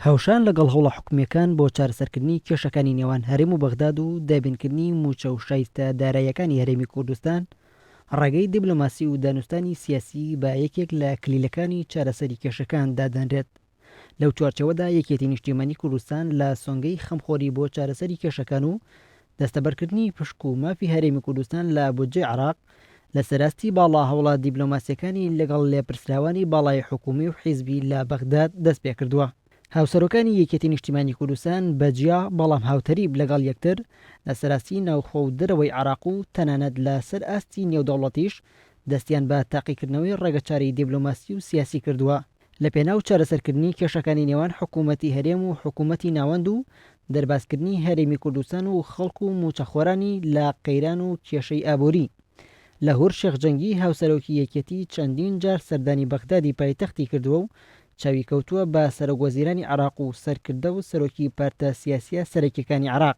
هاوشان لەگەڵ هەوڵە حکومییەکان بۆ چارەسەرکردنی کێشەکانی نێوان هەرێم و بەغداد و دابینکردنی مووچە و شایستە داراییەکانی هەرێمی کوردستان، ڕێگەی دیبلۆماسی و دانوستانی سیاسی بە یەکێک لە کلیلەکانی چارەسەری کێشەکان دادەنرێت. لەو چوارچێوەدا یەکێتی نیشتیمانی کوردستان لە سۆنگەی خەمخۆری بۆ چارەسەری کێشەکان و دەستەبەرکردنی پشک و مافی هەرێمی کوردستان لە بودجەی عێراق، لە سەراستی باڵا هەوڵە دیبلۆماسییەکانی لەگەڵ لێپرسراوانی باڵای حکوومی و حیزبی لە بەغداد دەست پێ کردووە. هاوسەرۆکانی یەکێتی نیشتیمانی کوردستان بە جیا بەڵام هاوتەریب لەگەڵ یەکتر لە سەراستی ناوخۆ و دەرەوەی عێراق و تەنانەت لە سەر ئاستی نێودەوڵەتیش دەستیان بە تاقیکردنەوەی ڕێگەچارەی دیبلۆماسی و سیاسی کردووە. لەپێناو چارەسەرکردنی کێشەکانی نێوان حکوومەتی هەرێم و حکوومەتی ناوەند و دەربازکردنی هەرێمی کوردستان و خەڵک و مووچەخۆرانی لە قەیران و کێشەی ئابووری. لاهور شێخ جەنگی هاوسەرۆکی یەکێتی چەندین جار سەردانی بەغدادی پایتەختی کردووە و چاوی کەوتووە بە سەرۆکوەزیرانی عێراق و سەرکردە و سەرۆکی پارتە سیاسییە سەرەکییەکانی عێراق،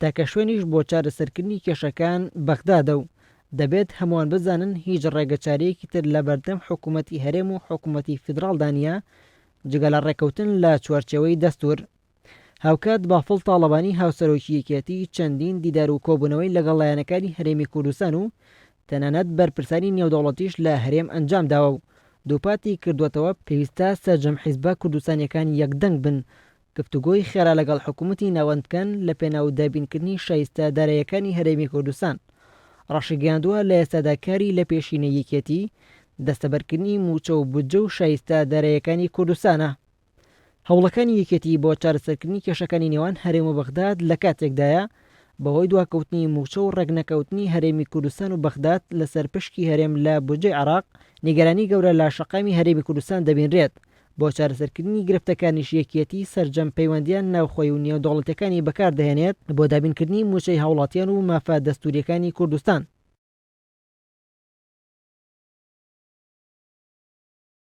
تاکە شوێنیش بۆ چارەسەرکردنی کێشەکان بەغدادە و دەبێت هەمووان بزانن هیچ ڕێگەچارەیەکی تر لەبەردەم حکوومەتی هەرێم و حکوومەتی فیدراڵدا نییە جگە لە ڕێککەوتن لە چوارچێوەی دەستوور. هاوکات بافڵ تاڵەبانی هاوسەرۆکی یەکێتی چەندین دیدار و کۆبوونەوەی لەگەڵ لایەنەکانی هەرێمی کوردستان و تەنانەت بەرپرسانی نێودەوڵەتیش لە هەرێم ئەنجامداوە و دووپاتی کردووەتەوە پێویستە سەرجەم حیزبە کوردستانییەکان یەکدەنگ بن گفتوگۆی خێرا لەگەڵ حکومەتی ناوەند بکەن لە پێناو دابینکردنی شایستە دارایەکانی هەرێمی کوردستان. ڕاشیگەیاندووە لە ئێستادا کاری لە پێشینەی یەکێتی دەستەبەرکردنی مووچە و بودجە و شایستە دارایەکانی کوردستانە. هەوڵەکانی یەکێتی بۆ چارەسەرکردنی کێشەکانی نێوان هەرێم و بەغداد لە کاتێکدایە بەهۆی دواکەوتنی مووچە و ڕێکنەکەوتنی هەرێمی کوردستان و بەغداد لەسەر پشکی هەرێم لە بودجەی عێراق نیگەرانی گەورە لە شەقامی هەرێمی کوردستان دەبینرێت بۆ چارەسەرکردنی گرفتەکانیش یەکیەتی سەرجەم پەیوەندییە ناوخۆی و نێودەوڵەتیەکانی بەکاردەهێنێت بۆ دابینکردنی موچەی هاوڵاتیان و مافە دەستوریەکانی کوردستان.